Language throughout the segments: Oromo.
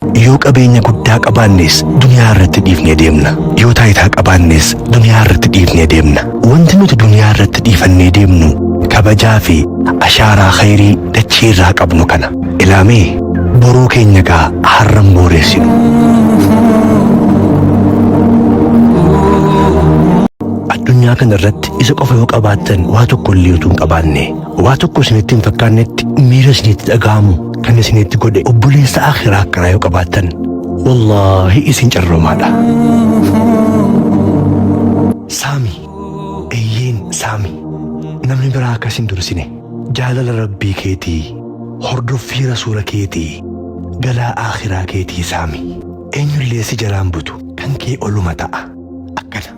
Yoo qabeenya guddaa qabaannes duniyaa irratti dhiifnee deemna. Yoo taayitaa qabaannes duniyaa irratti dhiifnee deemna. Wanti nuti duniyaa irratti dhiifannee deemnu kabajaa fi ashaaraa khayrii dachii irraa qabnu kana. Ilaamee boruu keenya gaa har'an booreessinu. Addunyaa kana irratti isa qofa yoo qabaattan waa tokko illee utuu hin qabaanne Waa tokko isinitti hin fakkaannetti miira isinitti dhaga'amu kan isinitti godhe obboleessa akhiraa akkanaa yoo qabaattan wallaahi isin carroomaadha. Saami, eeyyeen saami. Namni biraa akkas hin dursine. Jaalala rabbii keetii, hordoffii rasuula keetii, galaa akhiraa keetii saami. Eenyullee si jalaan butu kan kee oluma ta'a. Akkana.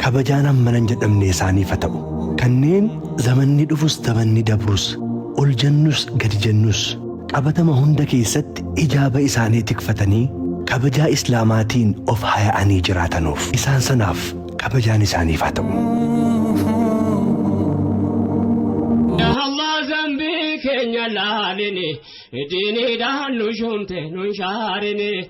Kabajaan hammana hin jedhamne isaaniif haa ta'u. Kanneen zamanni dhufus zamanni dabrus, ol jennus gadi jennus, qabatama hunda keessatti hijaaba isaanii tikfatanii kabajaa Islaamaatiin of haya'anii jiraatanuuf. Isaan sanaaf kabajaan isaaniif haa ta'u. Yaa Allah zambii keenya laalini, diiniidhaan nu shuumte nu hin shaarini.